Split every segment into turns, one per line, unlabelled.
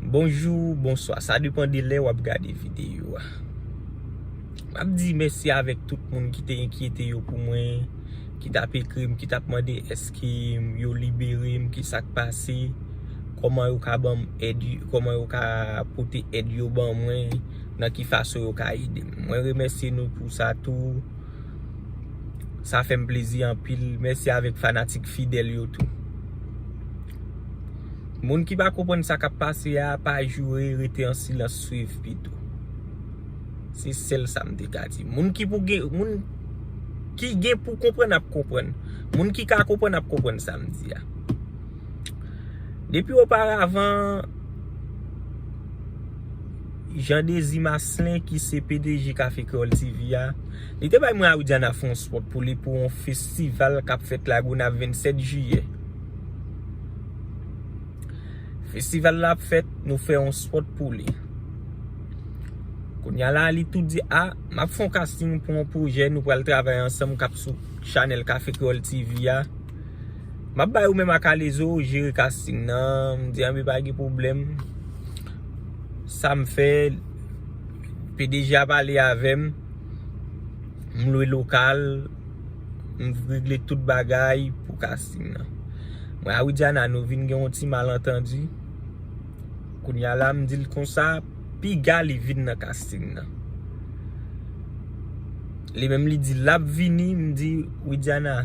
Bonjou, bonswa, sa depan de lè wap gade videyo a Map di mèsi avèk tout moun ki te enkyete yo pou mwen Ki tap ekri m, ki tap mande eske yo libere m, ki sak pase Koman yo ka banm èd, koman yo ka pote èd yo ban mwen Nan ki fason yo ka ede m Mwen remèsye nou pou sa tou Sa fèm plezi anpil, mèsi avèk fanatik fidèl yo tou. Moun ki pa konprann sa kap pase a pa joure rete an silans swiv pito. Se sèl sa m te ka di. Moun ki pou gen moun ki gen pou konprann ap konprann. Moun ki ka konprann ap konprann sa m di a. Depi o paravan Jean Désir Maslin ki se pdg Café Creole TV a li te bay mwen a Widiana fon spot pou li pou yon festival kap fèt la Gonaive 27 jiyè. Festival la ap fèt nou fè yon spot pou li. Kounya la li tou di a, m ap fè yon casting pou yon pwojè nou pral travay ansanm k ap sou chanèl Café Creole TV a. M ap bay ou menm ak Alezo jere casting nan. M di anbe pa gen pwoblèm. Sa m fè, pdg a pale avè m. M lwe lokal. M regle tout bagay pou casting nan. Mwen a Widiana nou vin gen yon ti malentendu. Kounya la m di l konsa, piga li vin nan casting nan. Li menm li di l ap vini, m di Widiana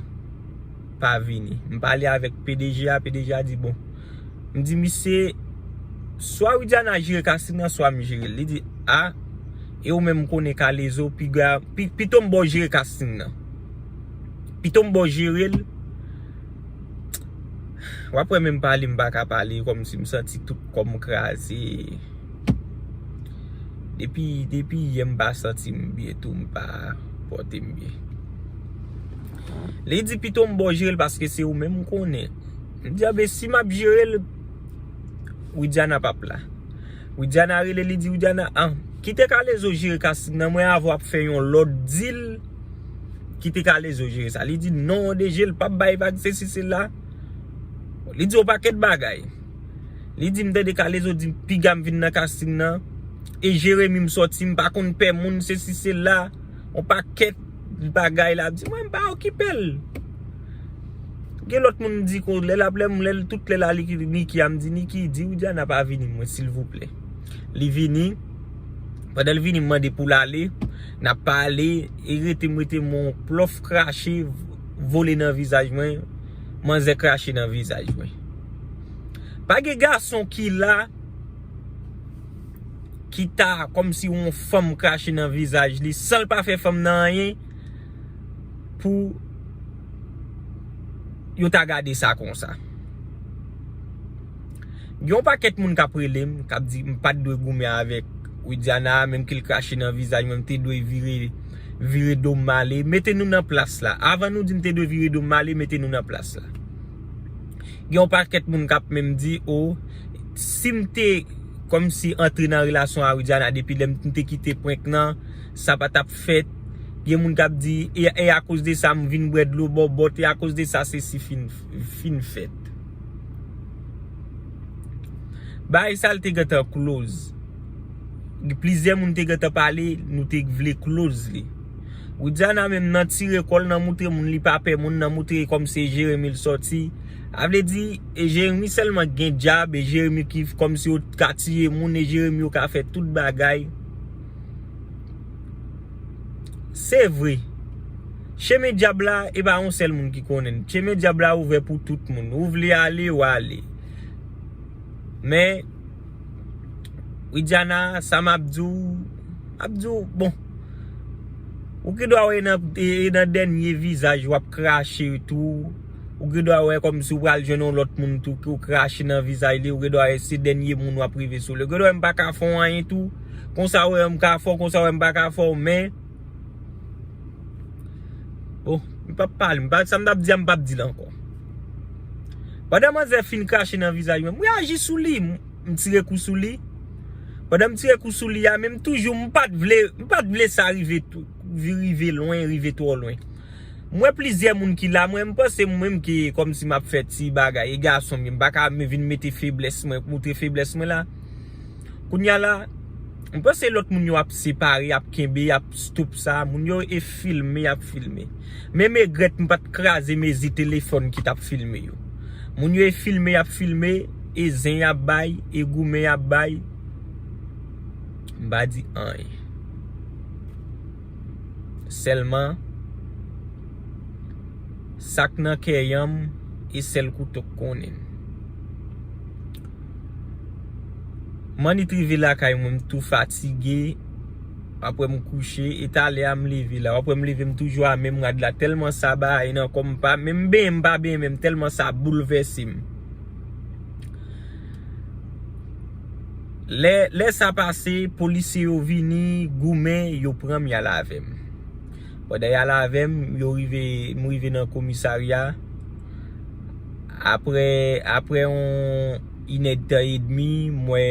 pa vini. M pale avèk pdg a, pdg a di bon. M di misye, swa Widiana jere casting nan, swa m jere l. Li di a. E ou menm m konnen kalezo piga pito m baw jere casting nan pito m baw jerel wap wè menm pale m paka pale kòmsi m santi tout kòm kraze depi depi yè m pa santi m byen tou m pa pòte m byen li di pito m baw jerel paske se ou menm m konnen m di a be si map jerel widiana pap la. Widiana rele li di Widiana ah kite kalezo jere casting nan mwen avèw ap fè yon lòt dil kite kalezo jere sa li di non an de jel pap bay vag sesi sela li di yon pakèt bagay li di m tande kalezo di pigam vin nan casting nan e jeremi m sòti m pa konn pè moun sesi sela yon pakèt bagay lap di mwen m pa okipel. Gen lòt moun m di kon lè lap lèm lèl tout lè la li ki di Niki a m di Niki di Widiana pa vini m wè silvouplè li vini pandan l vini m mande pou l ale nap pale e rete m rete m on plof krache vole nan vizaj mwen manzè krache nan vizaj mwen pa gen gason ki la ki ta kòm si on fanm krache nan vizaj li san l pa fè fanm nan anyen. pou yo ta gade sa konsa. Gen yon pakèt moun k ap rele m, k ap di m pa t dwe goumen avèk Widiana, menm ke l krache nan vizaj mwen, m te dwe vire do m ale. Mete nou nan plas la. Avan nou di m te dwe vire do m ale, mete nou nan plas la. Gen yon pakèt moun k ap menm di, oh, si m te kòmsi antre nan relasyon a Widiana depi lè m te kite prank nan, sa pa tap fèt gen moun kap di e akoz de sa m vin bwè dlo bòbòt e akoz de sa sesi fin fèt bagay sa te gentan kloz gen plizyè moun te gentan pale nou te vle kloz li Widiana menm nan tire kòl nan moutre moun li pa pè moun nan moutre kòm se Jérémie l sòti a vle di e Jérémie sèlman ki gen dyab e Jérémie ki kòm si yo ka tiye moun e Jérémie yo ka fè tout bagay. Se vre, chemen dyab la e pa yon sèl moun ki konnen l. Chemen dyab la ouvè pou tout moun. Ou vle ale, w ale. Men, Widiana, sa m ap di w, m ap di w, bon, ou gen dwa wè e nan dènye vizaj w ap krache tou. Ou gen dwa wè kòmsi w pral jwenn yon lòt moun tou pou w krache nan vizaj li. Ou gen dwa wè se dènye moun w ap rive sou li. Ou gen dwa wè m pa ka fè w anyen tou. Konsa wè m ka fè w, konsa wè m pa ka fè w men Bon, m pap pale, sa m t ap di a m pap di l ankò Pandan manzè fin krache nan vizaj mwen, m reyaji sou li, m tire kou sou li Pandan m tire kou sou li a, men m toujou, m pat vle, m pat vle sa rive tou Rive lwen, rive twò lwen M wè plizyè moun ki la, mwen m panse m menm ki kòm si m ap fè ti bagay E gason m ye, m pa ka vin mete feblès mwen, montre feblès mwen la Kounya la, m panse lòt moun yo ap separe, y ap kenbe, y ap stop sa, moun yo e filme, y ap filme. Men m egrèt m pa t kraze mezi telefòn ki t ap filme yo. Moun yo e filme, y ap filme, e zen y ap bay, e goumen y ap bay, m pa di anyen. Sèlman, sa k nan kè yanm, e sèl kouto k konnen. Manit rive lakay mwen m tou fatige Wap wè m kouche e talè a m leve la Wap wè m leve m toujou a menm rad la Tèlman sa baye nan kò m m pa menm benyen m pa benyen menm tèlman sa boulvèse m Lè sa pase polisye yo vini goumen yo pran m y al avè m. Pandan yal avèm, yo rive, m rive nan komisarya, aprè, aprè yon inèdtan edmi, m wè,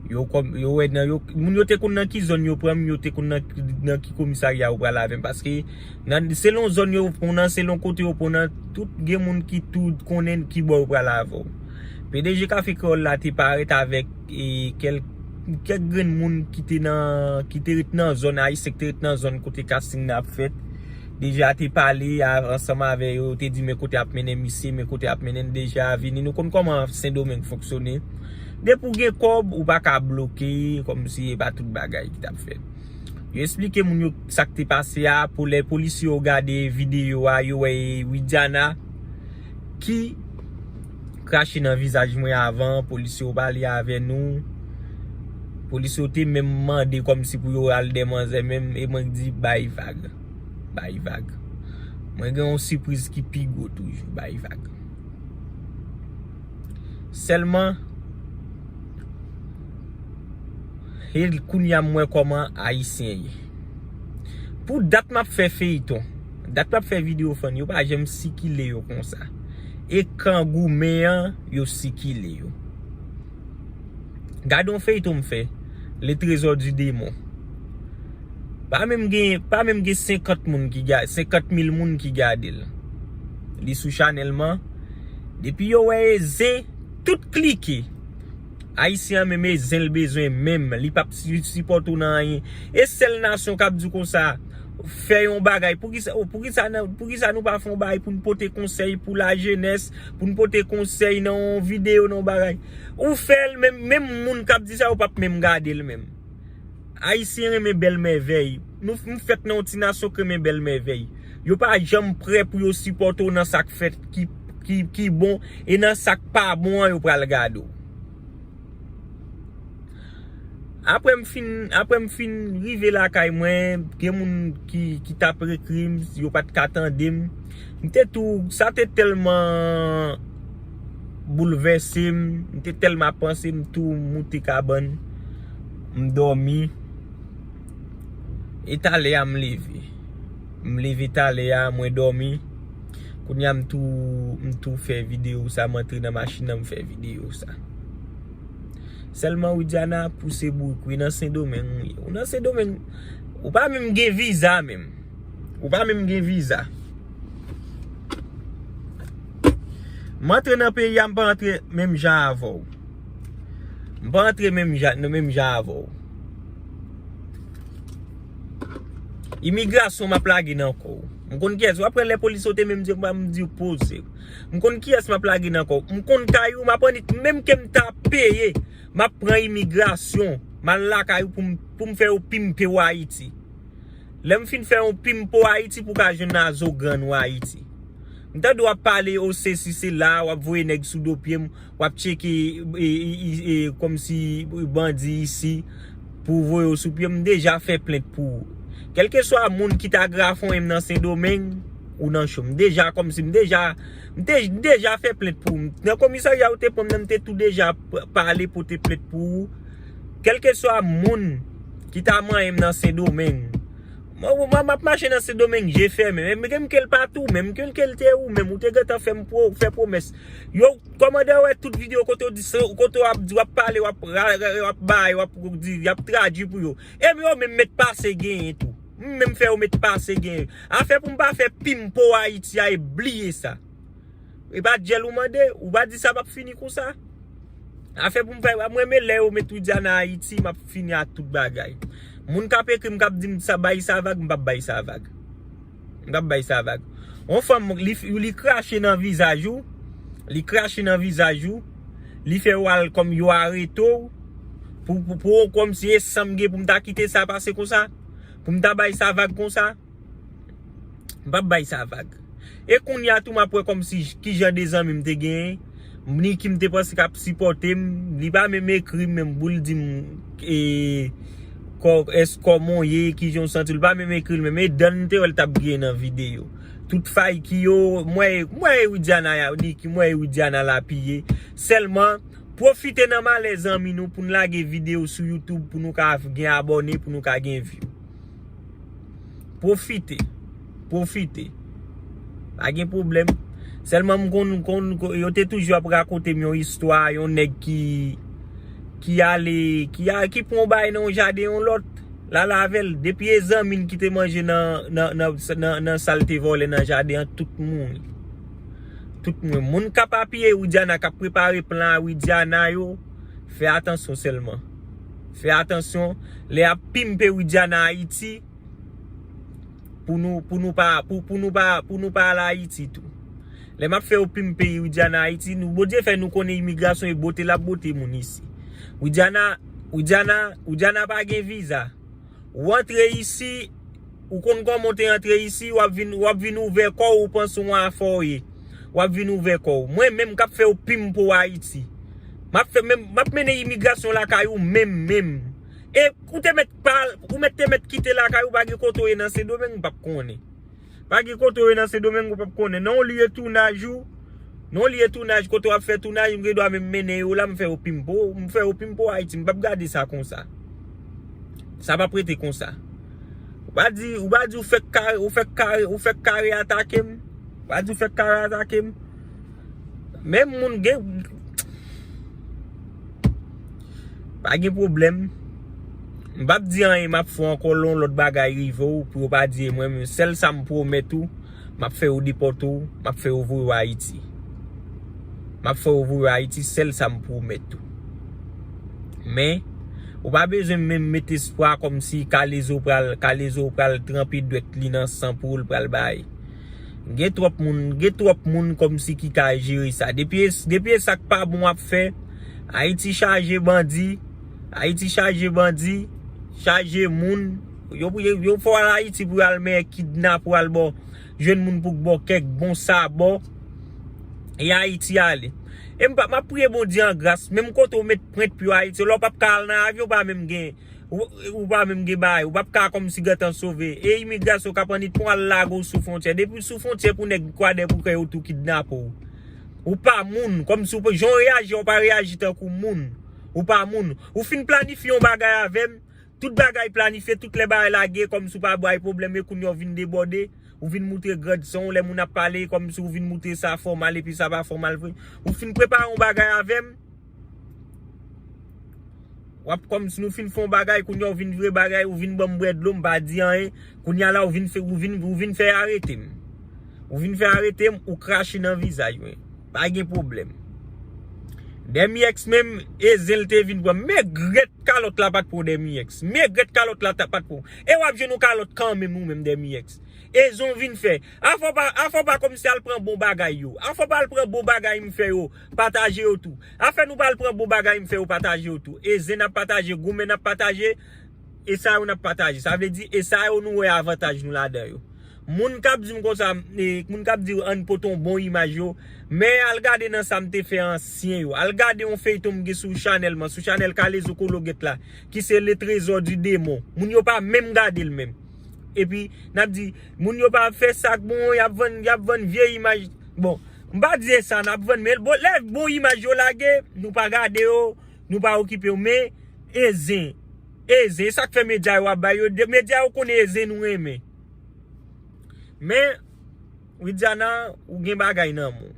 yo kòm, yo wè nan yo, moun yo te konn nan ki zòn yo pran m, yo te konn nan ki, nan ki komisarya yo pral avèm, paske, nan, selon zòn yo pran w nan, selon kote yo pran w nan, tout gen moun ki tou konnen ki bò yo pral avè w. Pdg Café Creole la te parèt avèk. kèk grenn moun ki te nan, ki te ret nan zòn, ayisyen ki te ret nan zòn kote casting nan ap fèt, deja te pale ansanm avè yo, te di men kote ap mennen misye, men kote ap mennen deja, vini nou konn kòman sendomeng fonksyone, depi ou gen kòb, ou pa ka bloke, kòm si e pa tout bagay ki tap fèt. Yo esplike moun yo sa ki te pase a, pou lè polisye yo gade videyo a, yo wè e Widiana ki. Krache nan vizaj mwen avan polis yo pale avè nou Polis yo te menm mande kòm si pou yo al dè manzè menm e mwen k di bay vag Bay vag Mwen gen yon sipriz ki pi gwo toujou Bay vag Sèlman E kounya m wè kòman ayisyen ye Pou dat m ap fè feyton Dat m ap fè video fany yo pa janm sikile yo konsa. e kan goumen an yo sikile yo. Gade yon feyton m fè, Le trésor du démon. Pa menm gen, pa menm gen 50 moun ki gade, 50 mil moun ki gade l. Li sou chanèl m an. Depi yo wè e zen, tout klike. Ayisyen an menm e zen l bezwen menm li pap sipòte w nan anyen e sèl nasyon kap di w konsa fè yon bagay poukisa poukisa nou pa fè yon bagay pou n pote konsèy pou lajenès pou n pote konsèy nan yon videyo nan yon bagay ou fè l menm moun kap di sa yo pap menm gade l menm. Ayisyen renmen bèl mèvèy. Nou fèt nan yon ti nasyon k renmen bèl mèvèy. Yo pa janm prè pou yo sipòte w nan sa k fèt ki bon e nan sa k pa bon an yo pral gade w. Aprè m fin, aprè m fin rive lakay mwen, gen moun ki t ap ekri m, yo pa t ka tande m. M te tou, sa te tèlman. boulvèse m, m te tèlman ap panse m tou moute kabann m dòmi e talè a m leve m leve talè a mwen dòmi kounye a m tou m tou fè video sa m antre nan machin nan m fè video sa sèlman Widiana pou se bouk wi nan sendomeng wi ou nan sendomeng ou pa menm gen viza menm ou pa menm gen viza. M antre nan peyi a m pa antre menm jan avè w. M pa antre menm jan avè w. Imigrasyon m ap lage nan kò w. M konn kiyès. W ap wè lè polis sote menm zye pa m di w poze w. M konn kiyès m ap lage nan kò w. M konn kay ou m ap annik menm ke m ta peye. M ap pran imigrasyon. M al lakay ou pou m fè yo pimpe w Ayiti. Lèm fin fè yon pim po ayiti pou ka jwenn nazo grann ou ayiti. M tande wap pale o sesi sela wap voye nèg sou do pyem wap tcheke komsi bandi isi pou voye w sou pyem m deja fè plent pou ou. Kelkeswa moun ki ta grafonyenm nan sendomeng ou nan cho. M deja komsi m deja m deja fè plent pou ou. Nan komisarya ou te pranm nan m te tou deja pale pote plent pou ou. Kelkeswa moun. Ki ta manyen m nan sendomeng. Mwen map mache nan sendomeng je fèmen. Menm gen m ke l pat ou menm. Gen m ke l te ou menm. Ou te gentan fè m fè pwomès. Yo kòmandè wè tout video kote w di se ou kote w ap di w ap pale w ap bay w ap di y ap tradwi pou yo. E m yo menm met pase genyen tou. M menm fè yo met pase genyen. Afè pou m pa fè pim pou Ayiti a e bliye sa. E pa dyèl ou mande, ou pa di sa pap fini konsa. Afè pou m fè, mwen renmen lè yo met Widiana Ayiti, map fini ak tout bagay. Moun kap ekri m kap di m sa bay sa vag, m pap bay sa vag. M pap bay sa vag. On fanm li krache nan vizaj ou, li krache nan vizaj ou, li fè ou al kòm yo arete ou, pou ou kòm si e sanm gen pou m ta kite sa pase konsa, pou m ta bay sa vag konsa. M pap bay sa vag. E kounya tou m ap wè kòmsi ki jan de zanmi m te genyen. Niki m te panse k ap sipòte m. Li pa menm ekri m menm pou l di m e es kòman w ye, ki jan w santi w. Li pa menm ekri l menm. E dan m te wè l t ap griyen nan videyo. Tout fay ki yo, m wè m wè e Widiana ya Niki m wè e Widiana lapiye. Sèlman, pwofite nan malè zanmi nou pou n lage videyo sou YouTube pou nou ka gen abòne, pou nou ka gen view. Profite. Profite. Pa gen problem. Selman m konn konn konn. Yo te toujou ap rakonte m yon istwa. Yon neg ki. Ki ale. Ki a ki pran yon bagay nan yon jaden yon lot. La lave l. Depi e zanmi l ki te manje nan nan nan nan nan sa l te vole nan jaden an tout mouri. Tout moun. Moun k ap apiye Widiana k ap prepare plan a Widiana yo. Fe atansyon selman. Fè atansyon lè yap pimpe widiana ayiti pou nou pou nou pa pou nou pa pou nou pa al ayiti tou lè map fè yo pimpe widiana ayiti nou bondye fè nou konnen imigrasyon e bote lap bote moun isi widiana widiana widiana pa gen viza Ou antre isi, ou konn kòman ou te antre isi, wap vin, wap vin ouvè kò ou, ou panse ou an afè ou ye. Wap vin ouvè kò ou. Mwen menm kap fè ou pim pou Ayiti. Map fè menm, map mennen imigrasyon lakay ou menm menm. E ou te mèt pa, ou mèt te mèt kite lakay ou pa gen kote ou ye nan Sendomeng, m pap konnen. Pa gen kote ou ye nan Sendomeng ou pap konnen. Nan yon lye tounaj ou, nan yon lye tounaj kote wap fè tounaj, m gen dwa menm mennen yo la, m fè yo pimpo, m fè yo pimpo Ayiti. M pap gade sa konsa. Sa pap rete konsa. Ou pa di, ou pa di ou fèk kare, ou fèk kare, ou fèk kare atake m. Ou pa di ou fèk kare atake m. Menm moun gen Pa gen problem M pap di anyen map fè ankò lè yon lòt bagay rive w pou yo pa di e mwen menm sèl sa m pwomèt ou map fè yo depòte w map fè yo voye w ayiti map fè yo voye w ayiti sèl sa m pwomèt ou men ou pa bezwen menm met espwa kòmsi kalezo pral kalezo pral tranpe dwèt li nan san poul pral bay. Gen twòp moun, gen twòp moun kòmsi ki ka jere sa. Depi e, depi e sak pa bon ap fè. Ayiti chaje bandi, Ayiti chaje bandi, chaje moun. Yo pou, yo fò al Ayiti pou yo al men kidnap pou al baw, jwenn moun pou k baw kèk bon sabò. E Ayiti ale. E m pa, map priye Bondye an gras, menm kote ou met prent pou yo Ayiti, la ou pap ka al nan avyon ou pa menm gen. Ou pa menm gen bagay. Ou pap ka kòmsi gentan sove. E imigrasyon kap annik pou al lage w sou fontyè. Depi w sou fontyè pou nèg kwadè pou kè yo tou kidnape w. Ou pa moun. Kòmsi w pa jan w reyaji a ou pa reyaji tankou moun. Ou pa moun. Ou fin planifye yon bagay avè m. Tout bagay planifye. Tout lè bagay lage kòmsi w pa bay pwoblèm e kounye a w vin debòde. Ou vin moutre grand san w lè moun ap pale kòmsi w vin moutre sa fòmal epi sa pa fòmal vre. Ou fin prepare yon bagay avè m. Wap kòm si nou fin fon bagay kounye a ou vin vire bagay ou vin banm bwè dlo m pa di anyen kounye a la ou vin ou vin fè arete m ou vin fè arete m ou krache nan vizaj mwen pa gen pwoblèm Dèmièks menm e zen l te vin pran m megrèt kalòt la pat pou Dèmièks megrèt kalòt la pat pou w e wap jwenn yon kalòt kanmenm ou menm Dèmièks e zen w vin fè afè w pa afè w pa kòmanse al pran bon bagay yo afè w pa al pran bon bagay m fè yo. Pataje yo tou. Afè nou pral pran bon bagay m fè yo pataje yo tou. E zen nap pataje, goumen nap pataje, e sa yo nap pataje. Sa vle di e sa yo nou wè avantaj nou ladan yo. Moun kap di m konsa, moun kap di an pote yon bon imaj yo, men al gade nan sa m te fè ansyen yo. Al gade yon feyton m gen sou chanèl mwen, sou chanèl Kalezo Kologèt la, ki se Le Trésor du Démon. Moun yo pa menm gade l menm. E pi nap di. Moun yo pa fè sak bon yap vann yap vann vye imaj bon m pa di esa nap vann men bon lè bon imaj yo lage nou pa gade yo nou pa okipe yo men e zen e zen esak fè medya yo ap bay yo de medya yo konnen e zen nou renmen men widiana ou gen bagay nan menw.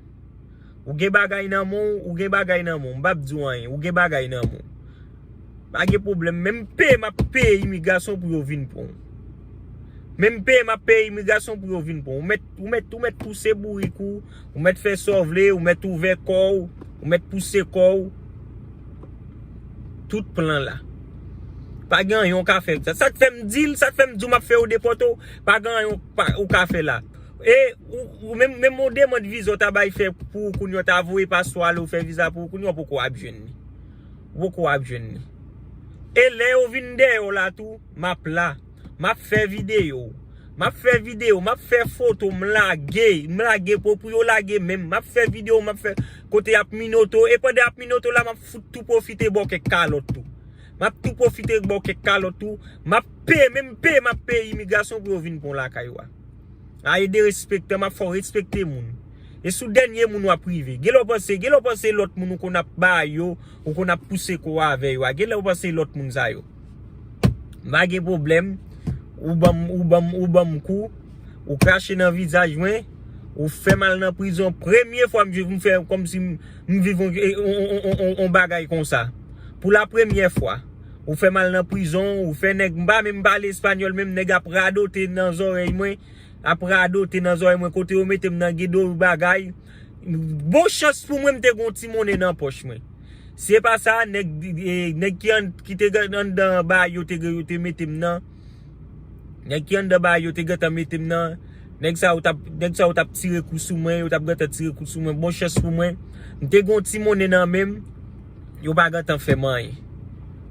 Ou gen bagay nan men w, ou gen bagay nan men w. M pap di w anyen. Ou gen bagay nan men w. Pa gen pwoblèm. Menm peye m ap peye imigrasyon pou yo vin pran w. Menm peye m ap peye imigrasyon pou yo vin pran w. Ou mèt ou mèt pouse bourik ou. Ou mèt fè sa w vle. Ou mèt ouvè kò w. Ou mèt pouse kò w. Tout plan la. Pa gen anyen w ka fè. Sa k fè m di l. Sa k fè m di w m ap fè yo depòte w. Pa gen anyen w ka fè la. E ou menm menm yon demand viza ou ta bay fè pou ou kounye ou ta voye paspò ale ou fè viza pou ou kounye ou poko ap jwenn li. Ou poko ap jwenn li. E lè yo vin dèyè w la tou, m ap la. M ap fè videyo. M ap fè videyo, m ap fè foto, m lage, m lage pou pou yo lage menm. M ap fè videyo, m ap fè kote y ap minote w. E pandan y ap minote w la, m ap fout tou pwofite ba w kèk kalòt tou. M ap tou pwofite ba w kèk kalòt tou. M ap peye, menm peye m ap peye imigrasyon pou yo vin pran w lakay ou a. A e derespektan map fè w respekte moun. E sou dènye moun wap rive. Genlè w panse, genlè w panse lòt moun ou konn ap ba yo, ou konn ap pouse kò w avè yo a, genlè w panse lòt moun sa yo. M pa gen pwoblèm, ou banm, ou banm, ou banm kou, ou krache nan vizaj mwen, ou fè m al nan prizon. Premye fwa m viv, m fè kòm si m viv yon, yon, yon, yon bagay konsa. Pou la premye fwa. Ou fèm al nan prizon, ou fè nèg m pa menm pale espagnol menm nèg ap radote nan zòrèy mwen, ap radote nan zòrèy mwen kote yo metem nan gen do bagay, bon chans pou mwen m te gon ti monnen nan pòch mwen. Si e pa sa nèg ki te anndan bay yo te metem nan. Nèg ki anndan baay yo te gentan mete m nan. Nèg sa yo t ap tire kou sou mwen. Yo t ap gentan tire kou sou mwen. Bon chans pou mwen, m te gen yon ti monnen nan men m. Yo pa gentan fè m anyen.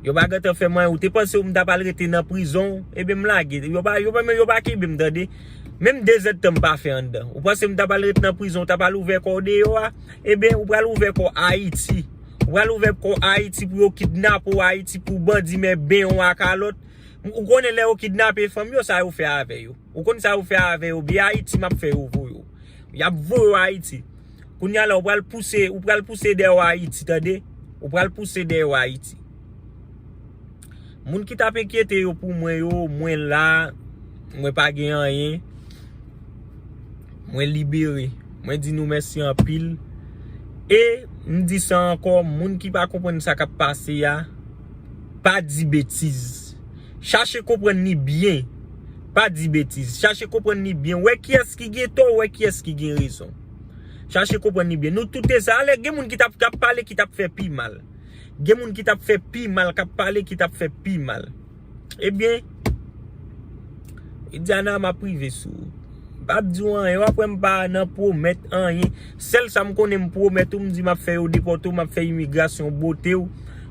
Yo pa gentan fè m anyen. Ou te panse m t ap al rete nan prizon. Ebyen m lage. Yo pa kenbe m tande. Menm dezèdtan m pa fè anndan. Ou panse m t ap al rete nan prizon. Ou t ap al ouvè kò w deyò a. Ebyen ou pral ouvè kò w Ayiti. Ou pral ouvè kò w Ayiti pou yo kidnape w Ayiti pou bandi men ben w a kalòt. Ou konnen lè yo kidnape fanm yo sa yo fè avè yo. Ou konn sa yo fè avè yo biyè ayiti map fè yo voye yo. Yap voye yo ayiti. Kounya la ou pral pouse ou pral pouse dèyè yo ayiti tande. Ou pral pouse dèyè yo ayiti. Moun ki tap enkyete yo pou mwen yo mwen la mwen pa gen anyen. Mwen libere. Mwen di nou mèsi anpil. E m di sa ankò moun ki pa konprann sa kap pase a. Pa di betiz. Chache konprann li byen. Pa di betiz. Chache konprann li byen. Wè kiyès ki gen tò, wè kiyès ki gen rezon. Chache konprann li byen. Nou tout te sa. Alè gen moun ki tap kap pale ki tap fè pi mal. Gen moun ki tap fè pi mal kap pale ki tap fè pi mal. Ebyen. Widiana map rive sou ou. M pap di w anyen, w ap wè m pa nan pwomèt anyen. Sèl sa m konnen m pwomèt ou, m di map fè yo depòte w, map fè imigrasyon bote w,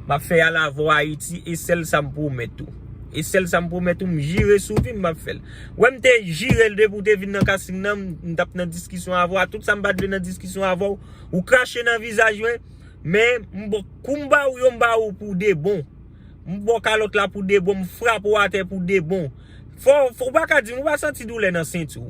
map fè y al avè w Ayiti, e sèl sa m pwomèt ou. E sèl sa m pwomèt ou, m jire sou vi m map fè l. Ou wè m te jire l depi w te vin nan kasting nan, m tap nan diskisyon avè w, a tout sa m pat vle nan diskisyon avè w, ou krache nan vizaj mwen, men m ba w, kou m ba w yo, m ba w pou de bon. M baw kalòt la pou debon m frap ou atè pou debon. Fò ou pa ka dim ou pa santi doulè nan sentiw.